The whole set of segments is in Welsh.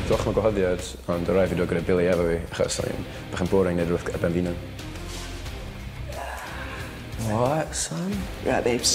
Diolch am y gwahoddiad, ond o' raid fi dod gyda Billy efo fi achos o'n i'n bach yn boring neud rwbeth ar ben fy unan. What son? Right babes.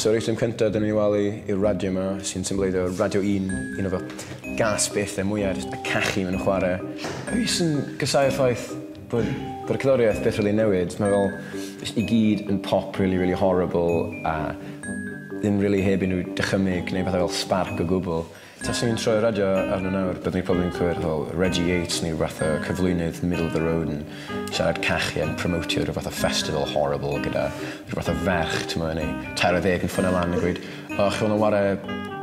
So yr eitem cynta dyn ni'n walu yw'r radio ma sy'n symbleiddio radio un, un o fy gas byth er mwya jyst y cachu ma' nw'n chware. Fi jyst yn gasáu'r ffaith bod bod y cerddoriaeth byth rili'n newid ma' fel jyst i gyd yn pop rili rili horrible a ddim rili heb unryw dychymyg neu pethe fel sbarc o gwbwl. Taswn i'n troi'r radio arno nawr, byddwn i probably yn clywed fel Reggie Yates neu fath o cyflwynydd middle of the road yn siarad cachu yn promotio rhyw fath o festival horrible gyda rhyw fath o ferch, t'mo' yn ei tair ar ddeg yn ffonio lan yn gweud o chi moyn ware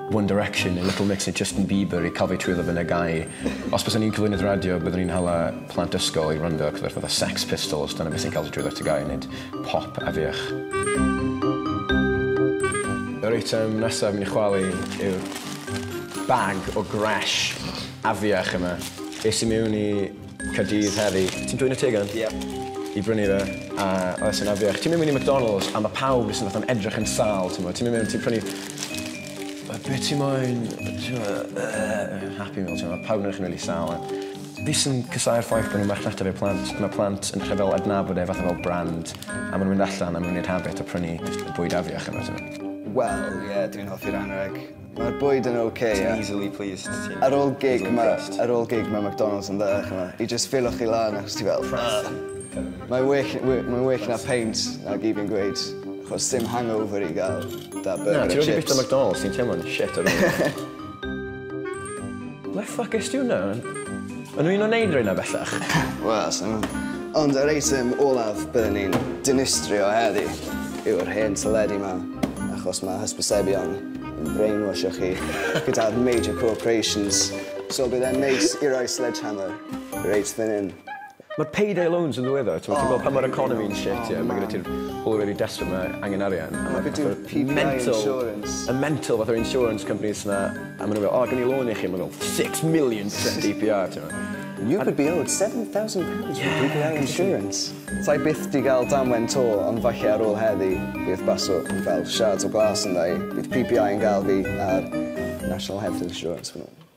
One Direction neu Little Mix neu Justin Bieber i ca'l fi twyllo fy nygau. Os bysen i'n cyflwynydd radio byddwn i'n hala plant ysgol i wrando ar rhyw fath o Sex Pistols, dyna be' sy'n ca'l ti twyllo tygau nid pop a fuwch. Yr eitem nesaf mynd i chwalu yw'r bag o gresh afiach yma. Es i mewn i Caerdydd heddi. Ti'n dwyn y tegan? Ie. I brynu fe, a oedd e sy'n afiach. Ti'n mynd mewn i McDonalds a mae pawb jyst yn fatha'n edrych yn sâl, ti'n gwybod. Ti'n mynd mewn, ti'n prynu be ti moyn, ti'n gwybod, yy, happy meal, ti'n gwybod. Pawb yn edrych yn rili sâl a... Fi sy'n casáu'r ffaith bod 'na marchnata i'r plant. Mae plant yn rhyfel adnabod e fatha fel brand a maen nhw'n mynd allan a maen nhw'n wneud habit o prynu jyst y bwyd afiach yna, timod. Wel, ie, dw i'n hoffi'r anrheg. Mae'r bwyd yn ok, ie... Ti'n easily pleased, ti'n easily impressed. Ar ôl gig ma', ar ôl gig ma' McDonalds yn dda, chimod. I jyst ffilo chi lan achos ti fel ugh. Mae'n well, mae'n well na peint, nag i fi'n gweud, achos sdim hangover i gael 'da burger a chips. Na, ti wedi byta McDonalds, ti'n teimlo'n shit ar ôl. Le ffwc est ti hwnna? O'n nhw un o neud reina bellach? Wel, sai'n gwbo. Ond yr eitem olaf byddwn ni'n dinistrio heddi yw'r hen teledu 'ma, achos ma' hysbysebion yn brainwashio chi gyda'r major corporations, so bydd e'n neis i roi sledgehammer reit fan 'yn. Ma'r payday loans yn ddiweddar t'mod ti'n gweld pan ma'r economi yn shit ie ma' gyda ti'r pobol wedi desperate ma' angen arian a ma' fatha mental y mental fatha insurance companies 'ma a ma' n'w fel o gawn ni lôn i chi ma' fel six million for Dee Pee Are t'mo'. You could be owed seven thousand pounds from Dee Pee Are insurance. Sa i byth 'di ga'l damwain 'to ond falle ar ôl heddi bydd Basso yn fel shards o glas yndda i. Bydd Pee Pee Are yn ga'l fi a'r National Health Insurance.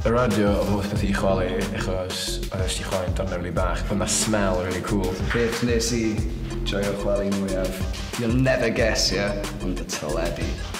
Y radio oedd holl beth i chwalu achos oedd eisiau chwalu'n darn rili bach but mae smell rili cwl. Beth nes i joio chwalu mwyaf? You'll never guess ie? Ond y teledu.